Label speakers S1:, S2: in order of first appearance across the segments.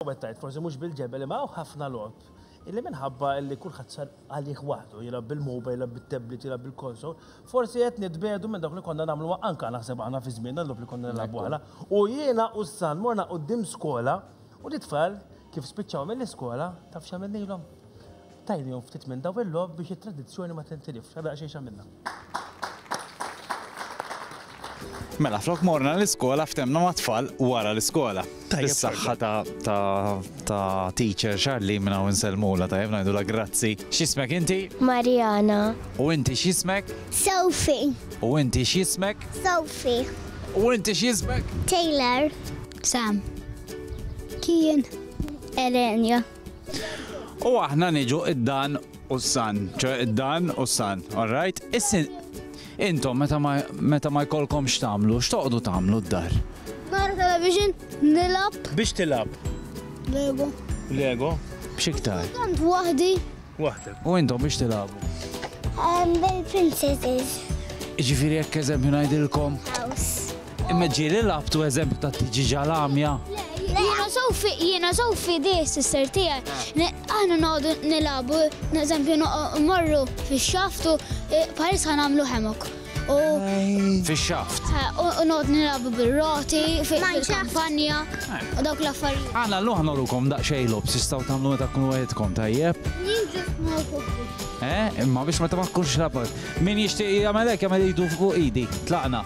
S1: Għawet tajt, forsi mhux bil-ġebel imma hawn ħafna logħob illi minħabba illi kulħadd sar għalih waħdu, jilgħab bil-mobile, jilgħab bit-tablet, jilgħab bil-konsol, forsi qed nitbedu minn dawk li konna nagħmluha anka naħseb aħna fi żmienna l-logħob li konna nilgħabu aħna. U jiena u s-san morna quddiem skola u l-itfal kif spiċċaw mill-iskola taf x'għamilnilhom? Tajnihom ftit minn dawn il-logħob biex it-tradizzjoni ma tintilifx. Għadha daqsxejn x'għamilna.
S2: Mela, flok morna l-iskola ftemna ma' tfal wara l-iskola. Is-saħħa ta' teacher Charlie minna u nselmula ta' jemna la grazzi. Xismek inti? Mariana.
S3: U inti
S2: xismek? Sofi.
S3: U inti
S2: xismek? Sofi.
S3: U inti
S2: xismek? Taylor.
S3: Sam. Kien. Elenia.
S2: U aħna niġu id-dan u s-san, ċe id-dan u s-san, all right? Issin, intom meta ma jkollkom x'tamlu, x'toqdu tamlu d-dar? Nara television,
S3: nilab. Biex tilab?
S1: Lego.
S3: Lego?
S1: B'xiktar?
S2: Tant wahdi.
S3: Waħdek. U
S1: intom biex tilagħbu?
S3: Bil-princesses. Ġifieri
S2: jekk eżempju ngħidilkom.
S3: Imma ġieli
S2: labtu eżempju ta' tiġi ġalamja. Jiena sofi,
S3: jiena sofi di sister tiegħi. Aħna noqogħdu nilagħbu, eżempju morru fix-xaftu, paris ħanamlu ħemok. u
S2: Fix-xaft. u u noqgħod
S3: nilagħbu bir-roti fi- fil-kampanja u dawk l-affarijiet. Għana l-lum ħnorukom
S2: daqxej lob, sistaw tamlu meta tkunu għedkom tajjeb. Jien ġust ma jħobbux. Eh, imma biex meta ma tkunx labat. Min jixtieq jagħmel hekk jagħmel idu fuq idi. Tlaqna.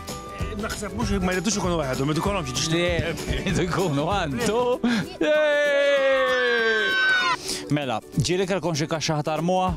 S2: Naħseb mhux
S1: ma jridux ikunu waħedhom, jridu kollhom jiġu xtieq. Idu jkunu
S2: għandu. Mela, ġieli kelkom xi kaxxa ħatarmuha?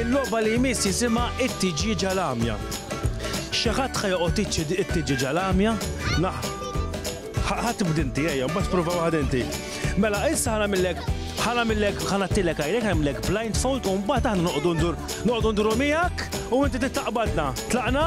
S1: Il-logħba li jmiss jisimha It-Tiġieġa l-Għamja. Xi ħadd ħa joqgħod iċċedi it-tiġieġa l-għamja? Naħ. Ħadd tibda inti ejja, mbagħad prova waħda inti. Mela, issa ħana millek ħana millek ħana tilek għajrek għamlek blindfold u mbagħad aħna noqogħdu ndur noqogħdu nduru miegħek u inti tittaqbadna. Tlaqna?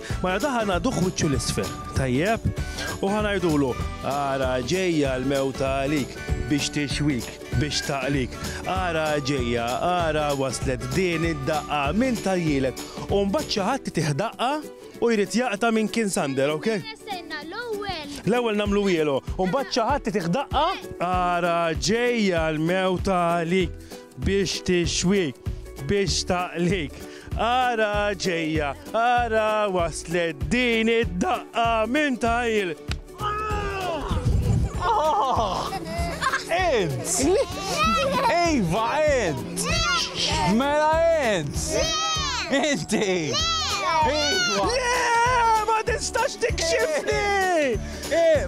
S1: Mela da ħa ngħaduh wiċċu 'l isfel, tajjeb? U ħa ngħidulu, Ara ġejja l-mewta għalik, biex tixwik, biex taqlik. Ara ġejja, ara waslet din id-daqqa, min tgħajjilek? U mbagħad xi ħadd itih daqqa u jrid jaqta' minn kien Sander, okay? Stenna, stenna, l-ewwel. L-ewwel nagħmlu wielu, u mbagħad xi ħadd itih daqqa, Ara ġejja l-mewta għalik, Biex tixwik, biex taqlik. Ara ġejja, ara waslet din id-daqqa minn tajl.
S2: Ed! Ejva, Ed! Mela Ed! Inti! Ejva! Le,
S1: ma tistax tikxifni! Eh,